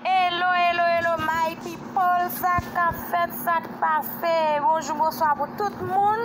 Hello hello hello my people sak kap fèt sak pase bonjou bonswa pou tout moun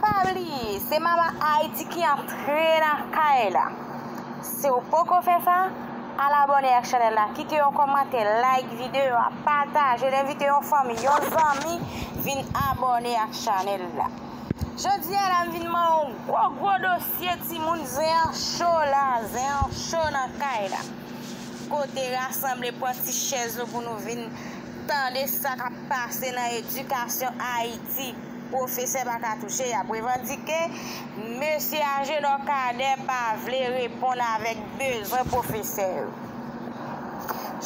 pa bliye se mama Haïti ki antre nan kay la si ou poko fè sa al abòne ak chanèl la kite yon kòmantè like videyo a patajel envite yon fanmi yon zanmi vin abòne ak chanèl la. Jodi a la m vin ban w gwo gwo dosye timoun zen an cho la zen an cho nan kay la kote rasanble pran ti chèz nou pou nou vin tande sa k ap pase nan edikasyon ayiti pwofesè pa ka touche y ap revandike mesye ajenò kadè pa vle reponn avèk bezwen pwofesè yo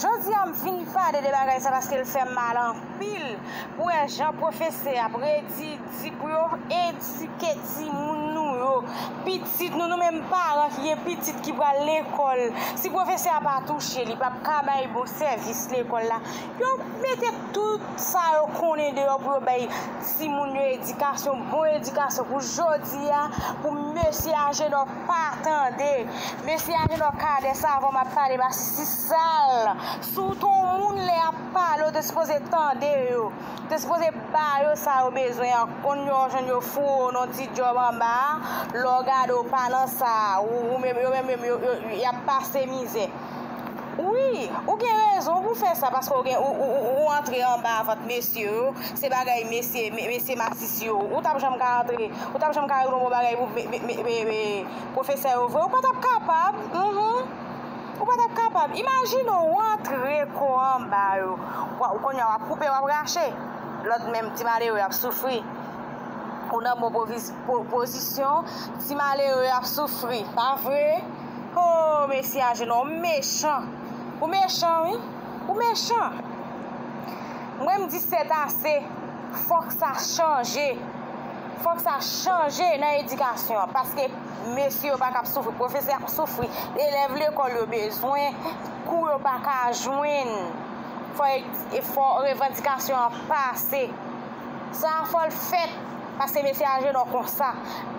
jodi a m vin pale de bagay sa paske l fè m mal an. Pil pou wè jan pwofesè ap redi di pou yo edike timoun nou yo, pitit nou, nou menm paran ki gen pitit ki pral lekòl, si pwofesè a pa touche li pap ka bay bon sèvis lekòl la, yo mete tout sa yo konnen deyò pou yo bay timoun yo edikasyon, bon edikasyon pou jodi a, pou mesye Ajenò pa tande, mesye Ajenò kadè savan map pale pa sisal. Si w te yon moun lè y ap pale w te sipoze tande yo, w te sipoze ba yo sa yo bezwen an, konn yo w jwenn yo foure w nan yon ti djòb anba a, lè w gade w pa nan sa a, yo menm yo menm y ap pase mizè. Wi, ou gen rezon pou w fè sa paske ou antre anba vant mesye yo, se bagay mesye mesye masis yo, ou t ap janm ka antre, ou t ap janm ka regle yon bon bagay pou pwofesè yo vre? Ou pa t ap kapab, humm. Ou pa tap kapab. Imajine ou rantre kò anba yo. Ou konya wap koupe wap rache. Lòt menm ti malere yo ap soufri. Ou nan bon pozisyon ti malere yo ap soufri. Pa vre? Hoo mesye Ajenò ou mechan. Ou mechan wi. Ou mechan. Mwen m di sètase. Fòk sa chanje. Fòk sa chanje nan edikasyon an. Paske. Mesye yo pa ka ap soufri, pwofesè ap soufri, elèv lekòl yo bezwen kou yo pa ka jwenn, fò revandikasyon an pase. Sa a fò l fèt, paske mesye Ajenò konsa.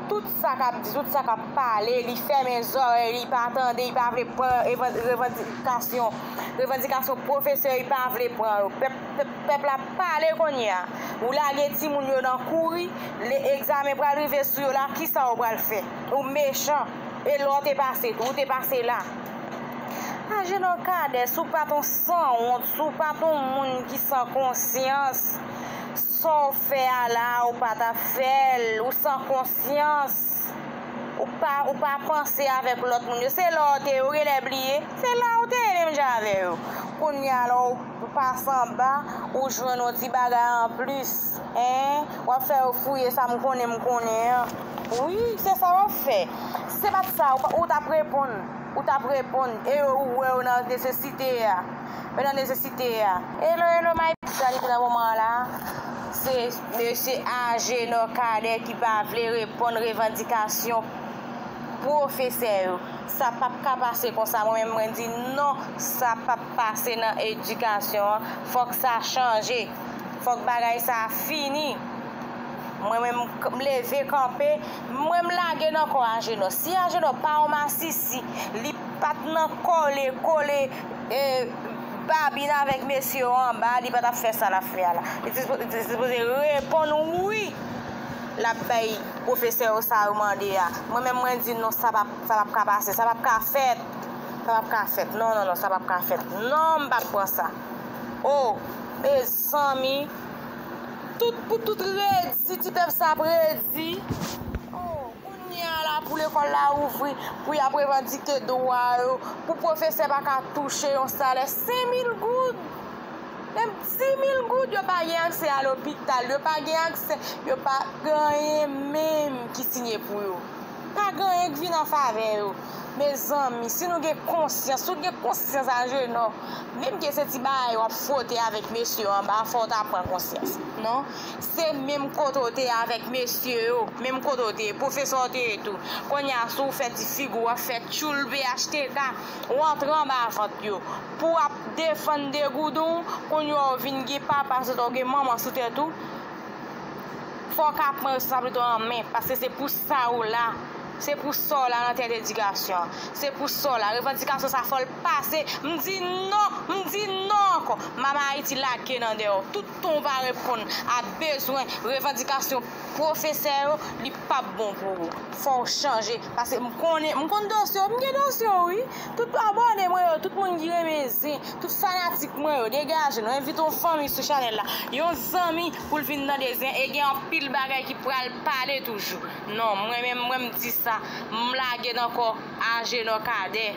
Tout sa k ap di, tout sa k ap pale, li fèmen zòrèy li, li pa tande, li pa vle pran revandikasyon, revandikasyon pwofesè yo, li pa vle pran yo. Pèp la pale kounye a. Ou lage timoun yo nan kouri, le egzamen pral rive sou yo la kisa ou pral fè? Ou mechan. E lè w te pase tou, ou te pase la. Ajenò Kades ou pat on sanwont, ou pat on moun ki san konsyans. Sa w fè a la a ou pa ta fè l, ou san konsyans. Ou pa ou pa panse avèk lòt moun yo se la ou te ye ou genlè bliye se la ou te ye menm jan avè yo kounya la ou pase anba ou jwenn yon ti bagay anplis hein wap fè yo fouye sa m konnen m konnen an wi se sa wap fè si se pat sa ou tap reponn ou tap reponn e yo ou wè yo nan nesesite a yo nan nesesite a hello hello my Sa li te nan moman an la se. Mesye Agénor Cadet ki pa vle reponn revandikasyon pwofesè yo. Sa pap ka pase konsa mwen menm mwen di non sa pap pase nan edikasyon an fòk sa chanje fòk bagay sa fini mwen menm m leve kanpe mwen m lage nan kò Agénor si Agénor pa yon masisi li pat nan kole kole e Babin avèk mesye yo anba li patap fè sa lap fè a la li te sipoze reponn wi lap bay pwofesè yo sa yo mande a mwen menm mwen di non sa pap ka pase sa pap ka fèt sa pap ka fèt non non non sa pap ka fèt non m pap pran sa oh mezanmi tout pou tout redi ti pèp sa ap redi oh. Kounye a la pou lekòl la ouvri, pou y ap revandike dwa yo, pou pwofesè pa ka touche yon salè sen mil goud, menm di mil goud yo pa gen aksè a lopital, yo pa gen aksè, yo pa gen anyen menm ki siye pou yo. Pa gen anyen ki vin an favè yo. Mezanmi, si nou gen konsyans, si w gen konsyans Ajenò, menm ke se ti bagay w ap fwote avèk mesye yo anba fò w ta pran konsyans. Non, Se menm kote w te avèk mesye yo, menm kote w te ye, pwofesè w te ye tou. Kounye a si w fè ti figi w ap fè tchoul phtk, w antre anba vant yo. Pou w ap defann degouden w, kounye a w vin gen papa sou tè w, w gen manman sou tèt ou, fò w ka pran responsablite w an men paske se pou sa ou la, se pou sa w la nan tèt edikasyon an, se pou sa w la. Revandikasyon sa fò l pase, m di non, m di non ankò! Mama Ayiti lage nan dèyè w. Ton pa reponn a bezwen revandikasyon pwofesè yo li pap bon pou ou fòw chanje paske m konnen m konn dosye w m gen dosye w wi tout abòne mwen yo tout moun ki renmen zen tout fanatik mwen yo degaje nou envite yon fanmi sou chanèl la yon zanmi pou l vin tande zen e gen anpil bagay ki pral pale toujou non mwen menm mwen m di sa m lage nan kò Agenor Cadet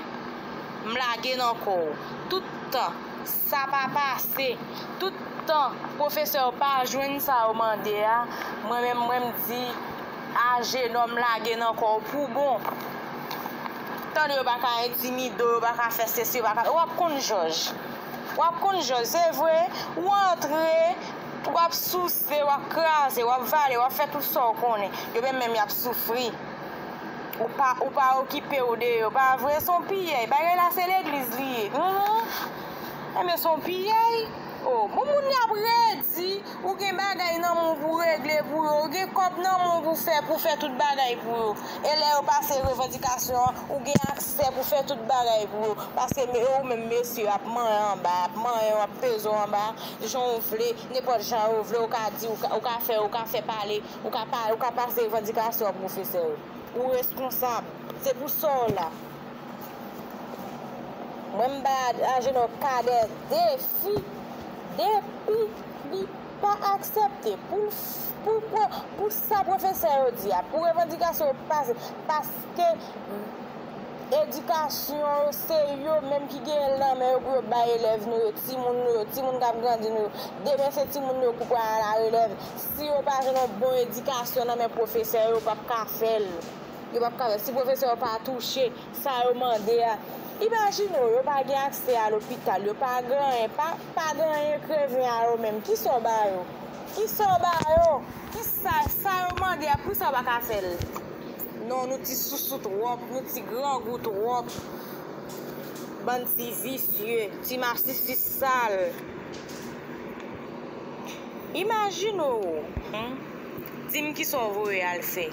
m lage nan kò w tout tan. Sa pa pase. Tout tan pwofesè yo pa jwenn sa yo mande a, mwen menm mwen m di a jenòm lage nan kò w pou bon. Tande yo pa ka entimide w, yo pa ka fè sesi, yo pa ka sa. W ap konn jòj. W ap konn jòj. Se vre, ou antre, w ap souse, w ap kraze, w ap vale, w ap fè tout sa w konnen. Yo menm menm y ap soufri. Ou pa ou pa okipew de yo pa vre son piyay bagay la se legliz li ye humm ebyen son piyay oh bon moun yo ap redi ou gen bagay nan menw pou regle pou yo ou gen kob nan menw pou fè pou fè tout bagay pou yo e lè yo pase revandikasyon an ou gen aksè pou fè tout bagay pou yo paske men ou menm mesye yo ap manyen anba ap manyen yo ap pezew anba janw vle nenpòt jan yo vle ou ka di ou ka fè ou ka fè pale. Ou ka pa, ou ka pase revandikasyon an pwofesè yo. Ou reskonsab. Se pou sa w la. Mwen m bay Ajenò Cadet defi, depi li pa aksepte pou l, pou, pou sa pwofesè yo di a, pou revandikasyon yo pase, paske edikasyon yo se yo menm ki genyen l nan men yo pou yo bay elèv nou yo, timoun nou yo, timoun k ap grandi nou yo. Demen se timoun nou yo pou pral alarelèv. Si yo pa jwenn yon bon edikasyon nan men pwofesè yo, yo p ap ka fè l. Yo p ap ka fè l. Si pwofesè yo pa touche sa yo mande a. Imajine w, yo pa gen aksè a lopital, yo pa gen anyen, pa gen anyen kreven a yo menm. Ki sa w ba yo? Ki sa w ba yo? Ki sa, sa yo mande a, poukisa yo pa ka fè l? Non, nou ti sousou twòp, nou ti grangou twòp. Bann ti visye, ti masisis. Sal. Imajine w Humm di m kisa w voye al fè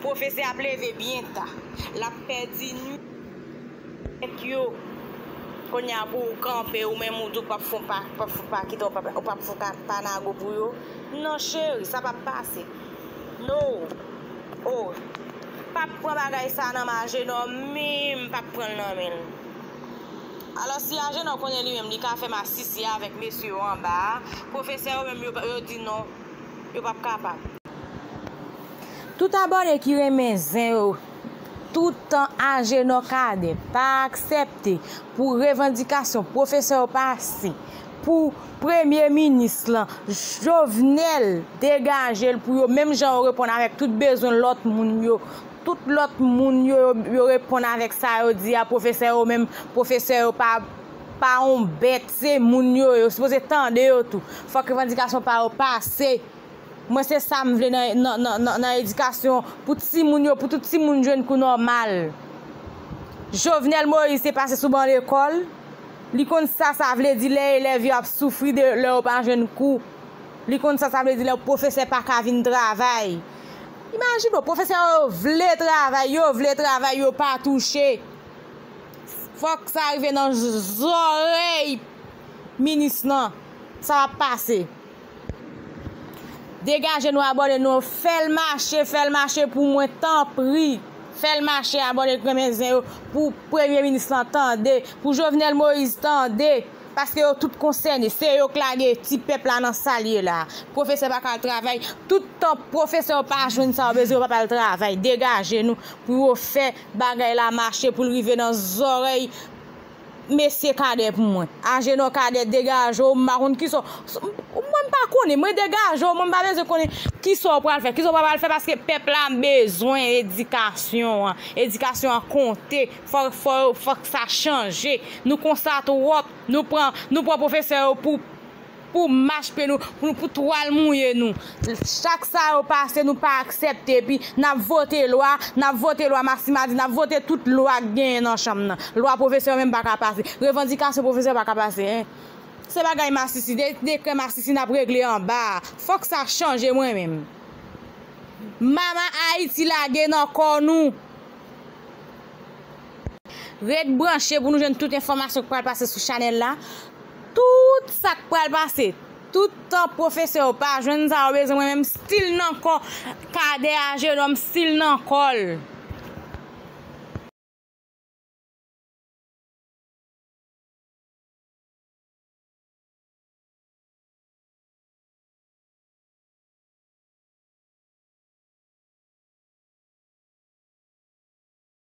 Pwofesè ap leve byen ta L ap pèdi nwit yo Kounye a pou w kanpe ou menm ou di w p ap fon pa kita ou p ap fon pa nago pou yo Non cheri sa p ap pase. Noo oo pap pran bagay sa nan men ajenò minm pap pranl nan menl alò si ajenò konnen li menm li ka fè masisi avèk mesye yo anba a pwofesè yo menm yo di non yo pap kapab. Tout abòne ki renmen zen yo tout tan ajenò cadet pa aksèpte pou revandikasyon pwofesè yo pase pou premye minis lan Jovenel degaje l pou yo menm jan yo reponn avèk tout bezwen lòt moun yo tout lòt moun yo yo reponn avèk sa yo di a pwofesè yo menm pwofesè yo pa pa yon bèt se moun yo yo sipoze tande yo tou fòk revandikasyon pa yo pase mwen se sa m vle nan edikasyon pou ti moun yo pou tout ti moun jwenn kou nòmal Jovenel Moïse te pase sou ban lekòl. Li konn sa sa vle di lè elèv yo ap soufri de lè yo pa jwenn kou. Li konn sa sa vle di lè pwofesè pa ka vin travay. Imajine w, pwofesè yo vle travay, yo vle travay, yo pa touche. Fòk sa rive nan zòrèy minis lan, sa pa pase. Degaje nou abone nou fèl mache fèl mache pou mwen tanpri fèl mache abone kremen zen yo pou premye minis lan tande pou jovenel moise tande paske yo tout konsène se yo k lage ti pèp la nan sal ye la profesè pa ka al travay tout tan profesè yo pa jwenn sa yo bezwen yo pap al travay degaje nou pou yo fè bagay la mache poul rive nan zòrèy mesye cadet pou mwen agenor cadet degaje w m pa konn kisa w mwen m pa konnen mwen degaje w mwen m pa bezwen konnen kisa w pral fè kisa w pa pral fè paske pèp la bezwen edikasyon an edikasyon an konte fò fò fòk sa chanje nou konsa twòp nou pran nou pran pwofesè yo pou Pou mach pye nou, pou nou pou twal mouye nou. Chak sa yo pase nou pa aksepte epi nap vote lwa, nap vote lwa Maximadi, nap vote tout lwa k genyen nan chanm nan. Lwa pwofesè yo menm pa ka pase. Revandikasyon pwofesè pa ka pase. Se bagay masisi, se dekrè masisi nap regle anba a. Fòk sa chanje mwen menm. Mama Ayiti lage nan kò nou. Ret branche pou nou jwenn tout enfòmasyon ki pral pase sou chanèl la. Tout sa k pral pase. Tout tan pwofesè yo pa jwenn sa yo bezwen mwen menm still nan kò Cadet Agenhomme still nan kò l.